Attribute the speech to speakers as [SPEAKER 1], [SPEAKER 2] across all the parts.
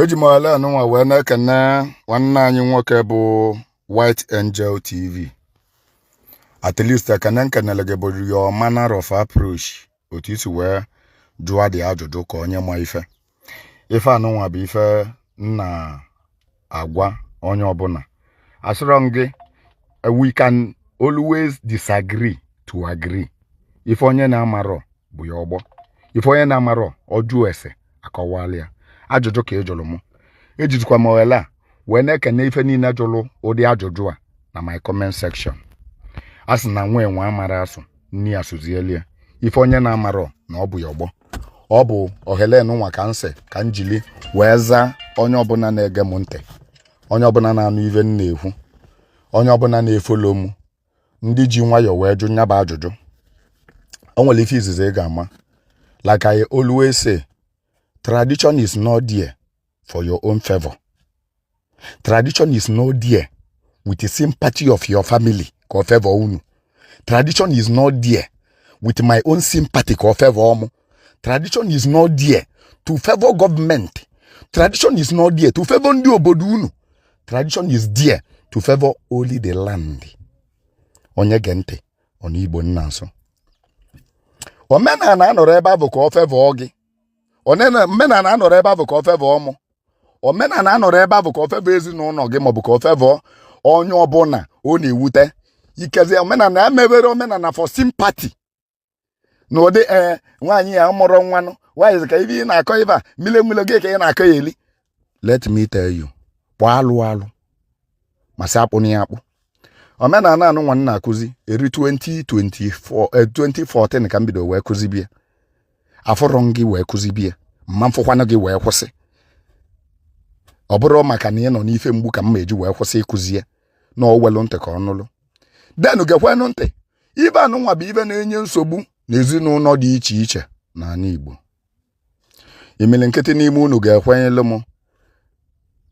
[SPEAKER 1] eji m ohere anụnwa wee na-ekene nwanne anyị nwoke bụ White Angel TV at least ekene m kenele gị bụ your manner of approach otu i si wee jụọ ụdị ajụjụ ka onye ma ife ife anụnwa bụ ife m na-agwa onye ọbụla asịrọ m gị we can always disagree to agree ife onye na-amarọ bụ ya ọgbọ ife onye na-amarọ ọ jụọ ese akọwalụ ya ajụjụ ka ị jụrụ m ejizikwa m ohere a wee na-ekene ife niile jụrụ ụdị ajụjụ a na my comment section a sị na nwa enwe amarọ asụ nne ya sụzieli ya ife onye na-amarọ na ọ bụ ya ọgbọ ọ bụ ohere nụnwa ka m sị ka m jili wee zaa onye ọbụla na-ege m ntị onye ọbụla na-anụ ife m na-ekwu onye ọbụla na-efollow m ndị ji nwayọọ wee jụọ ya bụ ajụjụ o nwere ife izizi ị ga-ama like I always say tradition is not there for your own favor tradition is not there with the sympathy of your family ka ọ favor unu tradition is not there with my own sympathy ka ọ favor mụ tradition is not there to favor government tradition is not there to favor ndị obodo unu tradition is there to favor only the land onye gee ntị ọ nụ Igbo m na-asụ omenala anọrọ ebe afụ ka ọ favor gị omenala anọrọ ebe afụ ka ọ favor mụ omenala anọrọ ebe afụ ka ọ favor ezinụlọ gị maọbụ ka ọ favor onye ọbụla ọ na-ewute ikezie omenala emeberọ omenala for sympathy na ụdị ee nwaanyị ya mụrụ nwanụ nwaanyị ka ife ị na-akọ ife a mile mile gị ka ị na-akọ ya eli let me tell you kpọọ alụ alụ ma sị akpụ na ya akpụ omenala anụnwa m na-akụzi eri 2024 eh, 2014 ka m bido wee kụzibe ya afụrọ m gị wee kụzibe ya m ma afụkwanụ gị wee kwụsị ọ bụrụ maka na ị nọ n'ife mgbu ka m ma eji wee kwụsị ịkụzi ya na owelu ntị ka ọ nụlụ geenụ geekwanụ ntị ife anụnwa bụ ife na-enye nsogbu na ezinụlọ dị iche iche n'ala Igbo imilikiti n'ime unu ga-ekwenyere m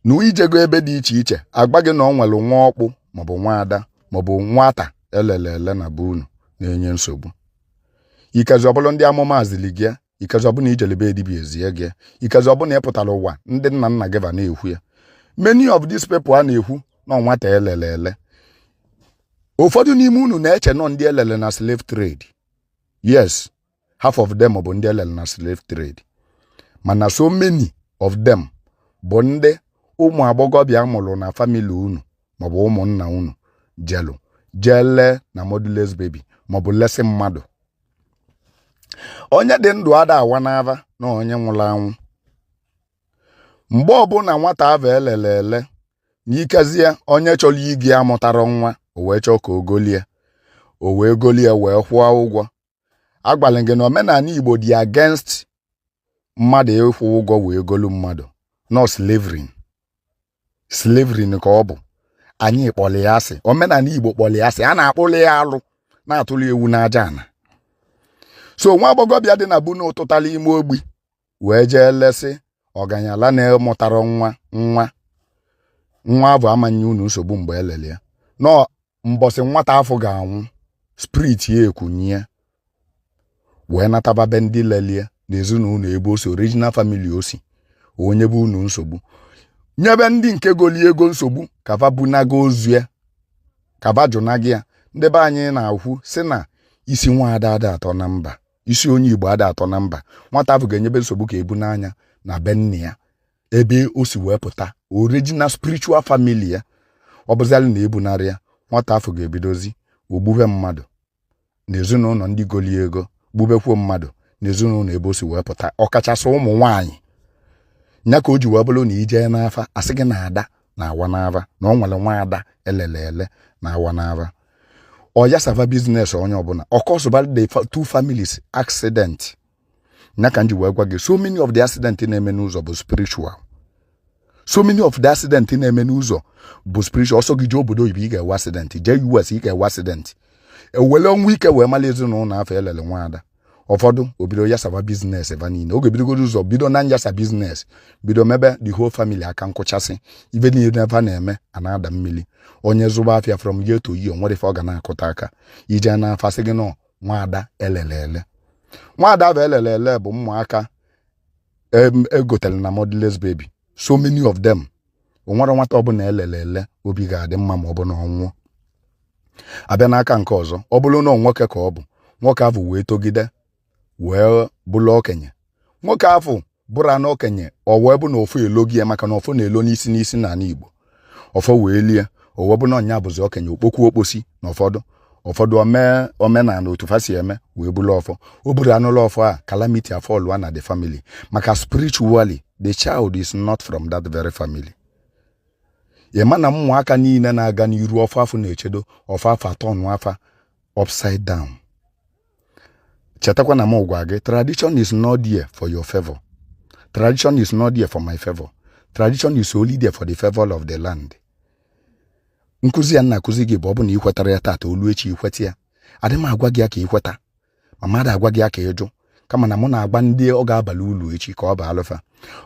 [SPEAKER 1] na ị jego ebe dị iche iche agwa gị na ọ nwere nwa ọkpụ maọbụ nwa ada maọbụ nwata elele ele na be unu na-enye nsogbu ikazi ọ bụlụ ndị amụma ziri gị ikazi ọ bụ na ị jele be dibịa ezie gị ikazi ọ bụ na ị pụtara ụwa ndị nna nna gị fa na-ekwu ya many of these people a na-ekwu na nwata elele ele ụfọdụ n'ime unu na-eche na ọ ndị elele na slave trade yes half of them bụ ndị elele na slave trade mana so many of them bụ ndị ụmụ agbọghọbịa mụrụ na family unu maọbụ ụmụnna unu jelu jee lee na motherless baby maọbụ lesi mmadụ onye dị ndụ ada awa n'ava na onye nwụrụ anwụ mgbe ọbụla nwata avụ elele ele n'ikezie onye chọrọ iji ya mụtara nwa o wee chọọ ka o golie o wee golie wee kwụọ ụgwọ agwala gị na omenani Igbo dị against mmadụ ịkwụ ụgwọ wee golu mmadụ na ọ slavery slavery ka ọ bụ anyị kpọrọ ya asị omenani igbo kpọrọ ya asị a na-akpụrụ ya alụ na atụrụ ewu n'aja ana so nwa agbọghọbịa dị na be unu tụtara ime ogbi wee jee lesị ọganyala na-amụtarọ nwa nwa nwa avụ ama nye unu nsogbu mgbe elele ya na mbọsị nwata afụ ga-anwụ spirit ya ekunie wee nataba be ndị lelie na ezinụlọ ebe o si original family o si o nyebe unu nsogbu nyebe ndị nke goli ego nsogbu ka va bunaga ozu ya ka va jụnago ya ndị be anyị na-ekwu sị na isi nwa ada ada atọ na mba isi onye igbo ada atọ na mba nwata afụ ga-enyebe nsogbu ka e bunaa ya na be nne ya ebe o si wee pụta original spiritual family ya ọ bụzalị na ebunarọ ya nwata afụ ga-ebidozi gbube mmadụ na ezinụlọ ndị goli ego gbubekwuo mmadụ na ezinụlọ ebe o si wee pụta ọkachasị ụmụ nwaanyị ya ka o ji wee bụrụ na i jee n'afa a sị gị na ada na awa n'ava na ọ nwere nwa ada elele ele na awa n'ava ọ yasava business onye ọbụla ọ causeba the two families accident na ka m ji wee gwa gị so many of the accident na-eme n'ụzọ bụ spiritual so many of the accident na-eme n'ụzọ bụ spiritual ọ sọ gị jee obodo oyibo ị ga-enwe accident jee US ị ga-enwe accident e wele ọnwụ ike wee mara ezinụlọ afụ elele nwaada ụfọdụ o bido yasaba business ebe niile oge bidogoro ụzọ bido na nyasa business bido mebe the whole family aka nkụchasị ibe niile ebe a na-eme a na-ada mmiri onye zụba afịa from year to year nwerọ ife ọ ga na-akụta aka i jee na afa a sị gị na ọ nwaada elele ele nwaada avụ elele ele bụ ụmụaka egotere na motherless baby so many of them o nwerọ nwata ọbụna elele ele obi ga-adị mma ma ọ bụ na ọ nwụọ abịa n'aka nke ọzọ ọ bụrụ na nwoke ka ọ bụ nwoke avụ wee togide wee bụrụ okenye nwoke afụ bụrụ anụ okenye ọ wee bụ na ọfọ elugo ya maka na ọfọ na-elu n'isi n'isi n'ala Igbo ọfọ wee lie o wee bụ na ọ nya bụzi okenye okpokwu okposi na ụfọdụ ụfọdụ omenala otu fa si eme wee buru ọfọ o buru anụlọ ọfọ a calamity afọlụa na the family maka spiritually the child is not from that very family ị ma na ụmụaka niile na-aga n'iru ọfọ afụ na-echedo ọfọ afụ atọ nụ afa upside down chetakwa na m gwa gị tradition is not there for your favor tradition is not there for my favor tradition is only there for the favor of the land nkụzi ya na-akụzi gị bụ ọ bụ na i kwetaro ya taata o lue echi i kweta ya adị m agwa gị ya ka i kweta ma m adị agwa gị ya ka ị jụ kama na mụ na-agwa ndị ọ ga-abalụ ulu echi ka ọ balụ fa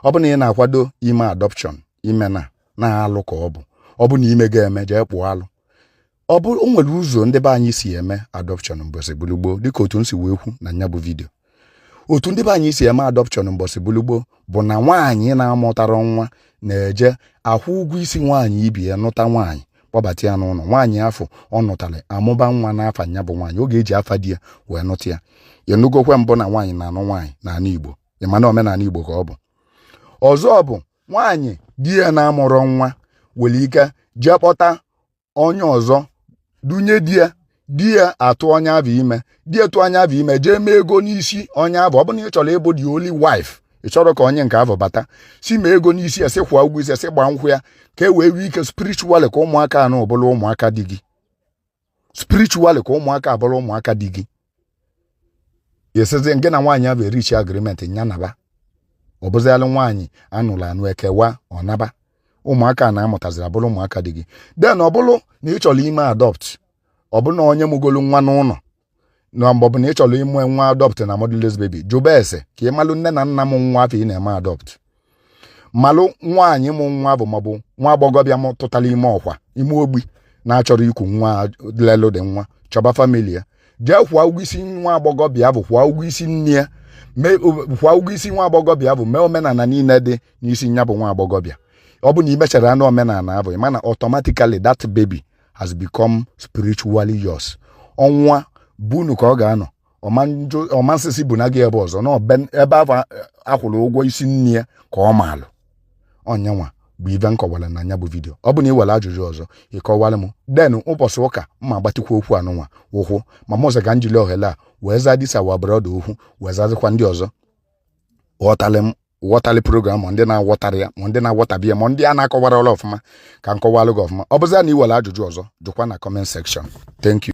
[SPEAKER 1] ọ bụ na ị na-akwado ime adọpshọn ị ma na alụ ka ọ bụ ọ bụ na i mego eme jee kpụọ alụ ọ bụ o nwere ụzọ ndị be anyị si eme adọpshọn mbọsị gbulugboo dịka otu m si wee kwu na nya bụ vidio otu ndị be anyị si eme adọpshọn mbọsị gbulugboo bụ na nwaanyị na-amụtarọ nwa na-eje akwụ ụgwọ isi nwaanyị ibe ya nụta nwaanyị kpọbata ya n'ụlọ nwaanyị afụ ọ nụtara amụba nwa n'afa nya bụ nwaanyị ọ ga-eji afa di ya wee nụta ya ị nụgokwa mbụ na nwaanyị na-anụ nwaanyị n'ala Igbo ị ma na omenala Igbo ka ọ bụ ọzọ bụ nwaanyị di ya na-amụrọ nwa nwere ike jee kpọta onye ọzọ dunye di ya di ya atụ onye afụ ime di ya tụọ onye afụ ime jee mee ego n'isi onye afụ ọ bụrụ na ị chọrọ ịbụ the only wife ị chọrọ ka onye nke afụ bata sị mee ego n'isi ya sị kwụọ ụgwọ isi ya sị gbaa nkwụ ya ka e wee nwee ike spiritually ka ụmụaka anụ bụrụ ụmụaka di gị spiritually ka ụmụaka a bụrụ ụmụaka di gị esizi ngị na nwaanyị afụ reachie agreement nya naba ọ bụzialụ nwaanyị a nụrụ anụ e kewa ọ naba ụmụaka anụ a mụtaziri abụrụ ụmụaka di gị then ọ bụrụ na ị chọrọ ime adopt ọ bụ na onye mụgolu nwa n'ụlọ na mgbe ọ bụ na ị chọrọ ime nwa adopt na motherless baby jụba ese ka ị malụ nne na nna mụ nwa afụ ị na-eme adopt malụ nwaanyị mụ nwa afụ maọbụ nwa agbọghọbịa tụtara ime ọkwa ime ogbi na-achọrọ iku nwa lelụ gị nwa chọba family ya jee kwụọ ụgwọ isi nwa agbọghọbịa afụ kwụọ ụgwọ isi nne ya kwụọ ụgwọ isi nwa agbọghọbịa afụ mee omenala niile dị n'isi nya bụ nwa agbọghọbịa ọ bụ na i mechara nnọọ omenala afụ ma na automatically that baby has become spiritually yours ọ nwa be unu ka ọ ga-anọ ọ ma sị sị buna gị ebe ọzọ na ebe afụ a kwụrụ ụgwọ isi nne ya ka ọ maalụ ọ nya nwa bụ ive m kọwara na nya bụ vidiyo ọ bụ na i nwere ajụjụ ọzọ ị kọwara m then ụbọchị ụka m agbatikwa okwu anụnwa ụkwụ ma mụ sị ka m jili ohere a wee zaa this our brother okwu wee zazikwa ndị ọzọ ghọtara m wọtalụ program ma ndị na-awọtarọ ya ma ndị na-awọtabi ya ma ndị a na-akọwarọlụ ọfụma ka m kọwalụ gị ọfụma ọ bụzi na i nwere ajụjụ ọzọ jụkwa na comment section thank you